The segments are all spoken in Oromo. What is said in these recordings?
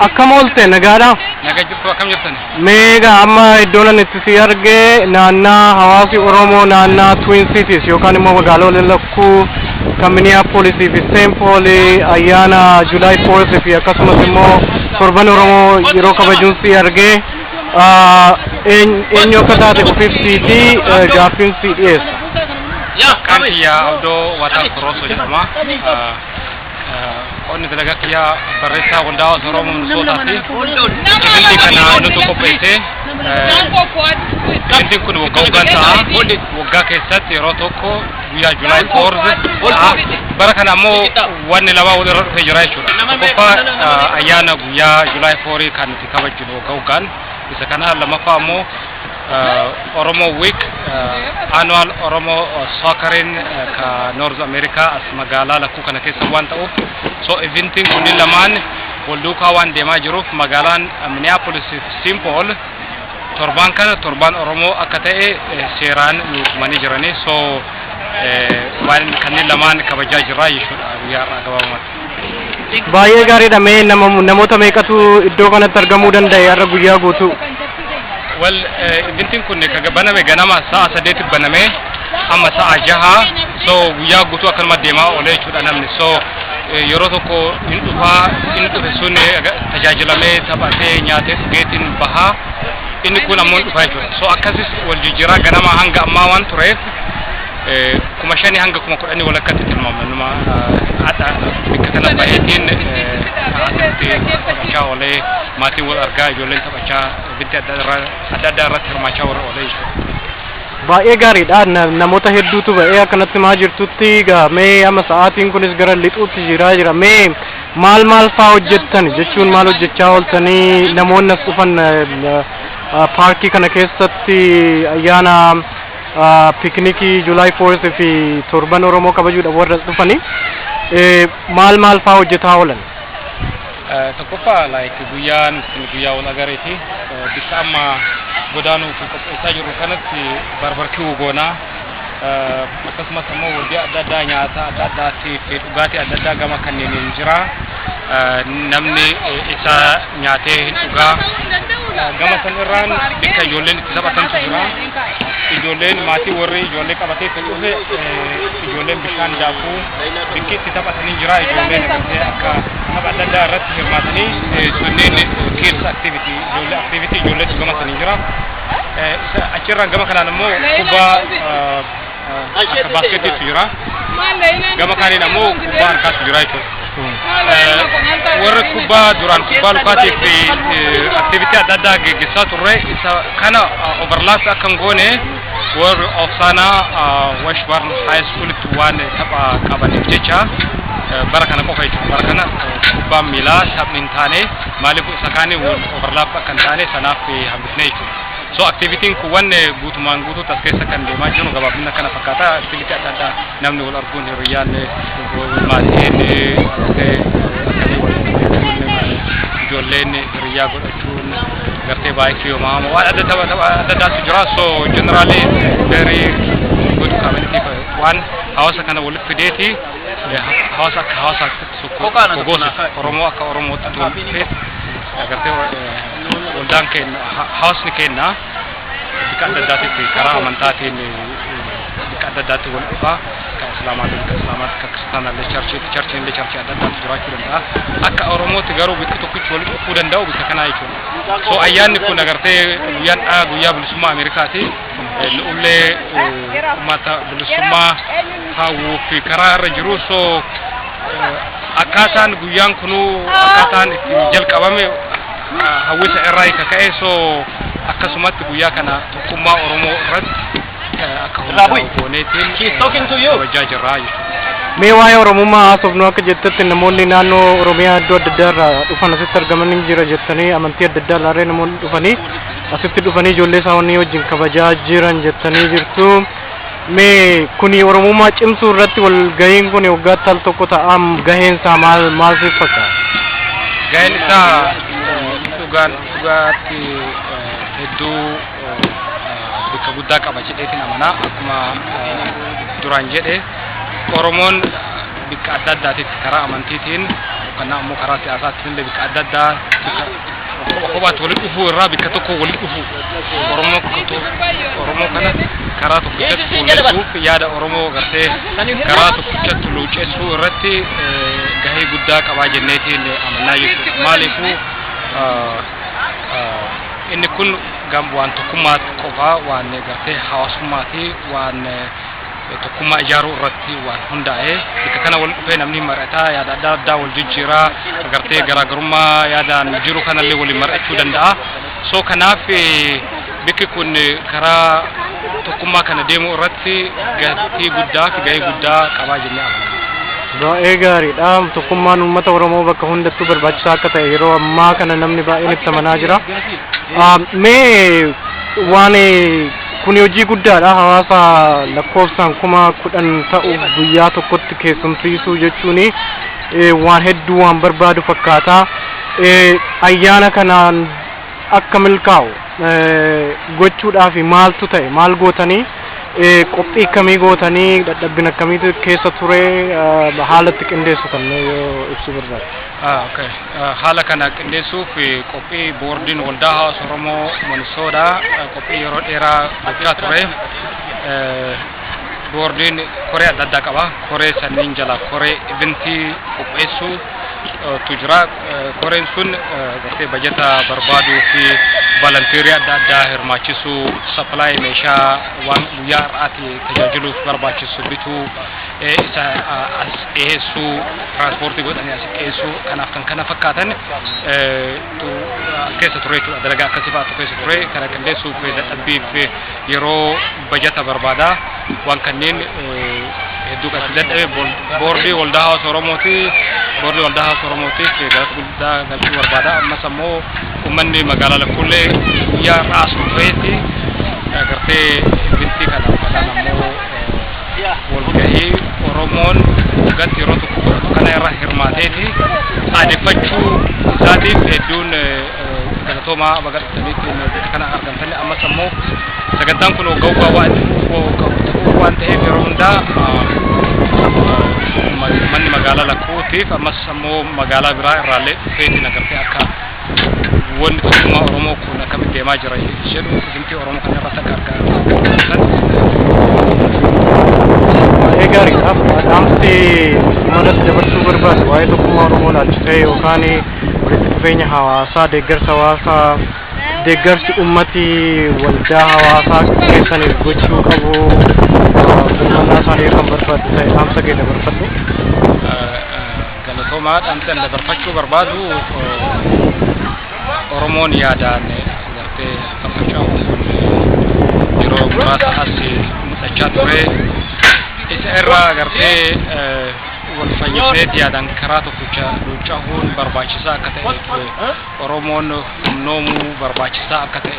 Akkam oolte nagaadha? Naga jirtu akkam jirtan? Meegaa amma iddoon ani itti si arge naannaa hawaasi Oromoo naannaa Twin Cities yookaan immoo magaalota lakkuu kan Minneapolis fi St. Paul ayyaana July 4th fi akkasumas immoo torban Oromoo yeroo kabajuun si arge ah, een- eenyu akka taate ofiifsii fi eh, gaaffiin si dhiyeessa. Kan kiyya Abdoo Wataa Korosoo jedhama. Ah, Qonni dalagaa kiyyaa barreessaa waldaa hawaasa Oromoo Minisootaati. Isinti kana nutu qopheesse. Isintiin kun waggaa waggaan ta'a. Waggaa keessatti yeroo tokko guyyaa Julaay foorze ta'a. Bara kana ammoo wanni lamaa wal irra dhufee jira jechuudha. Tokkoffaa ayyaana guyyaa Julaay foorii kan nuti kabajnu waggaa waggaan. Isa kana lammaffaa ammoo uh, Oromo Week uh, annual Oromo uh, soccering uh, ka North America as magaalaa lakkuu kana keessa waan ta'uuf so eventiin kunni lamaan wal duukaa waan deemaa jiruuf magaalaan uh, Minneapolis fi St. Paul torbaan kana torbaan Oromoo akka ta'e eh, seeraan nu tumanii jiranii so eh, waan kanneen lamaan kabajaa jirra jechuudha guyyaa har'aa gabaabumatti. Baay'ee gaariidha mee nama namoota meeqatu iddoo kanatti argamuu danda'e har'a guyyaa guutuu? Wal ibintiin kun kan baname ganama sa'a saddeetti baname amma sa'a jaha so guyyaa guutuu akkanuma deemaa oolee jechuudha namni so eh, yeroo tokko hin dhufaa inni dhufe sun eh, aga- tajaajilamee taphatee nyaatee dhugeetiin bahaa inni kun ammoo hin dhufaa jechuudha so akkasis wal jijjiiraa ganama hanga ammaa waan tureef kuma shanii hanga kuma kudhanii walakkatti tilmaamna numa hadha bikka kana baay'eetiin akkatti taphachaa oolee maatiin wal argaa ijoolleen taphachaa ibiddi adda addaa irratti hirmaachaa warra oolee jechuudha. Baay'ee gaariidha namoota hedduutu ba'ee akkanatti maa jirtutti mee amma sa'aatiin kunis gara lixuutti jiraa jira mee maal maal faa hojjettan jechuun maal hojjechaa ooltanii namoonni as dhufan paarkii kana keessatti ayyaana ah, piknikii July 4th fi torban Oromoo kabajuudhaaf warra as dhufanii eh, maal maal faa hojjetaa oolan? Eh, tokkoffaa like guyyaan kun guyyaa wal agareeti Eh, bikka amma godaanuuf qopheessaa jirru kanatti barbarki'uu goonaa Eh, akkasumas immoo hojii adda addaa nyaata adda addaatiif dhugaatii adda addaa gama kanneeniin jira Eh, namni eh, isa nyaatee hin dhugaa gama san irraan bakka ijoolleen itti taphatantu jira ijoolleen maatii warri ijoollee qabatee kan dhufe ijoolleen bishaan daakuu bakki itti taphatanii jira ijoolleen irratti akka tapha adda addaa irratti hirmaatanii sunneen kids activity ijoollee activity ijoolleetu gama sanii jira achirraan gama kanaan immoo kubbaa akka baaskeetiitti jira. Gama kaaniin ammoo kubbaa harkaatti jira jechuudha. warra kubbaa duraan kubbaa lukaatiif aktivitii adda addaa geggessaa turre isa kana overlaps akka hin goone warri ofsaanaa washburn high schoolitti waan tapha qabaniif jecha bara kana qofa jechuudha bara kana kubbaan miilaa taphni hin taane maaliif isa kaanii overlaps akka hin taane sanaaf hambifne jechuudha. So activitiin kuwwan guutumaan guutuutti as keessa kan deemaa jiru gabaabinna kana fakkaata. Activity adda addaa namni wal arguun hiriyyaan maatiin akkasii wal ijoolleen hiriyyaa godhachuun gartee baay'ee yoomama waan adda tapha tapha adda addaatu jira. So generally very good community waan hawaasa kana walitti fideeti hawaasa akka hawaasaatti tokko gosa Oromoo akka Oromootti walitti fidee agartee Waldaan keenya hawaasni keenya bifa adda addaatitti karaa amantaatiin bifa adda addaatti wal dhufaa kan islaamaatiin kan islaamaatti kan kiristaanaallee charchiitti charchiillee charchii adda addaatti jiraachuu danda'a akka oromootti garuu bifa tokkichi wal dhufuu danda'u bifa kanaa jechuudha so ayyaanni kun agartee guyyaan dhaa guyyaa bilisummaa ameerikaati nu'ullee uummata bilisummaa hawwuu fi karaa irra jiru so akkaataan guyyaan kunuu akkaataan itti jalqabame hawwisa irraa ka ka'e soo akkasumatti guyyaa kana tokkummaa Oromoo irratti akka hundaa'u gooneetiin kabajaa jirra jechuudha. Mee waa'ee Oromummaa haasofnu akka jettetti namoonni naannoo Oromiyaa iddoo adda addaa irraa dhufan asitti argamanii jira jettanii amantii adda addaa irraa namoonni dhufanii asitti dhufanii ijoollee isaanii wajjin kabajaa jiran jettanii jirtu. Mee kuni Oromummaa cimsuu irratti walgahiin kuni waggaatti al tokko ta'a gaheen isaa maal maal siif fakkaata? Gaheen isaa dhugaan dhugaatti hedduu bakka guddaa qaba jedheetiin amana akkuma duraan jedhe Oromoon bakka adda addaatitti karaa amantiitiin yookaan ammoo karaa siyaasaatti illee bakka adda addaa Tokko kophaatti walitti dhufuu irraa bakka tokko walitti dhufuu Oromoo kutu Oromoo kana karaa tokkichatti fuulleessuuf yaada Oromoo gartee karaa tokkichatti luucceessuu irratti eh, gahee guddaa qabaa jenneetiin amannaa jechuudha. Maaliifuu ah, ah, inni kun gam waan tokkummaa qofaa waan gartee hawaasummaa fi waan eh, tokkummaa ijaaruu irratti waan hundaa'e bakka kana wal dhufee namni mari'ataa yaada adda addaa wal jijjiiraa agartee garaagarummaa yaadaan jiru kanallee waliin mari'achuu danda'a. So kanaaf bakki kun karaa tokkummaa kana deemuu irratti gatii guddaa fi gahee guddaa qabaa jennee amanna. Baay'ee gaariidha. Tokkummaan uummata Oromoo bakka hundattuu barbaachisaa akka ta'e yeroo ammaa kana namni baay'een itti amanaa jira. Mee waan Kuni hojii guddaadha. Hawaasa lakkoofsaan kuma kudhan ta'u guyyaa tokkotti keessumsiisuu jechuun waan hedduu waan barbaadu fakkaata. Ayyaana kanaan akka milkaa'u gochuudhaaf maaltu ta'e? Maal gootanii? Qophii akkamii gootanii? Dadhabbina akkamiitu keessa ture? Haala itti qindeessitan yoo ibsuu barbaaddan. Haala kana qindeessuuf qophii boordiin waldaa hawaasa Oromoo Manisoodhaa qophii yeroo dheeraa gochaa ture. Boordiin koree adda addaa qaba. Koree sanniin jala koree ibintii qopheessuu tu jira. Koreen sun gartee bajata barbaaduu fi valantiirii adda addaa hirmaachisuu, sappilaayii meeshaa waan guyyaa har'aati tajaajiluuf barbaachisu bituu, isa as dhiyeessuu tiraanspooortii godhanii as dhiyeessuu kanaaf kan kana fakkaatan keessa ture jechuudha dalagaa akkasii fa'aatu keessa ture kana qindeessuuf dadhabbiif yeroo bajata barbaada waan kanneen hedduu kan itti dadhabe boordii waldaa hawaasa oromooti boordii waldaa hawaasa oromootiif galata guddaa galchuu barbaada ammas ammoo uummanni magaalaa lakkuullee guyyaa irraa as dhufeetti gartee bintii kana uffatan ammoo walgahii Oromoon nagatti yeroo tokko godhatu kana irra hirmaateeti aadeffachuu isaatiif hedduun galatoomaa baga dhuftaniitti bakka kana argamtanii ammas ammoo sagantaan kun waggaa waggaa waan itti fufuu qabu ta'uu waan ta'eef yeroo hundaa manni magaalaa lakkuutiif ammas ammoo magaalaa biraa irraallee dhufeetiin agartee akka wanni tokkummaa Oromoo kun akkamitti deemaa jira jedhu isinti Oromoo kana irratti akka argaa argatan. Baay'ee gaariidha. Dhaamsi uummatatti dabarsuu barbaadu waa'ee tokkummaa Oromoo laalchisee yookaan walitti dhufeenya hawaasaa deeggarsa hawaasaa deeggarsi uummati waldaa hawaasaa keessaniif gochuu qabu birmannaa isaanii kan barbaadu ta'e dhaamsa kee dabarfadhu. Galatoomaa dhaamsa inni dabarfachuu barbaadu Oromoon yaadaan gartee faffaca'uun kun yeroo muraasa as mul'achaa ture. Isa irraa gartee wal fayyisnee yaadaan karaa tokkicha luucca'uun barbaachisaa akka ta'e Oromoon humnoomuu barbaachisaa akka ta'e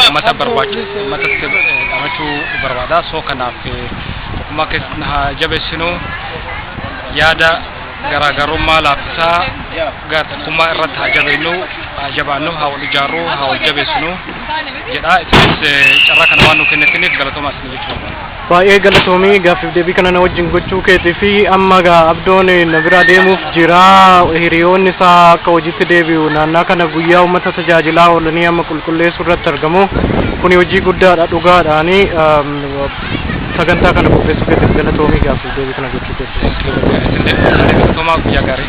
uummata barbaachisu uummatatti dhamachuu barbaada. Soo kanaaf tokkummaa keessatti haa jabeessinu yaada garaagarummaa laaffisaa gara tokkummaa irratti haa jabeennu haa jabaannu haa wal ijaarru haa wal jabeessinu jedha. Isinis carraa kana waan nu kennitaniif galatoomaa isin jechuudha. Baay'ee galatoomii gaaffiif deebii kana na wajjin gochuu keetii fi amma gaa abdoon na biraa deemuuf jira hiriyoonni isaa akka hojiitti deebi'u naannaa kana guyyaa uummata tajaajilaa oolanii amma qulqulleessuu irratti argamu kuni hojii guddaadha dhugaadhaani um, sagantaa kana qopheessuu keetiif galatoomii gaaffiif deebii kana gochuu keetiif. Isin deebi'uun guyyaa gaarii.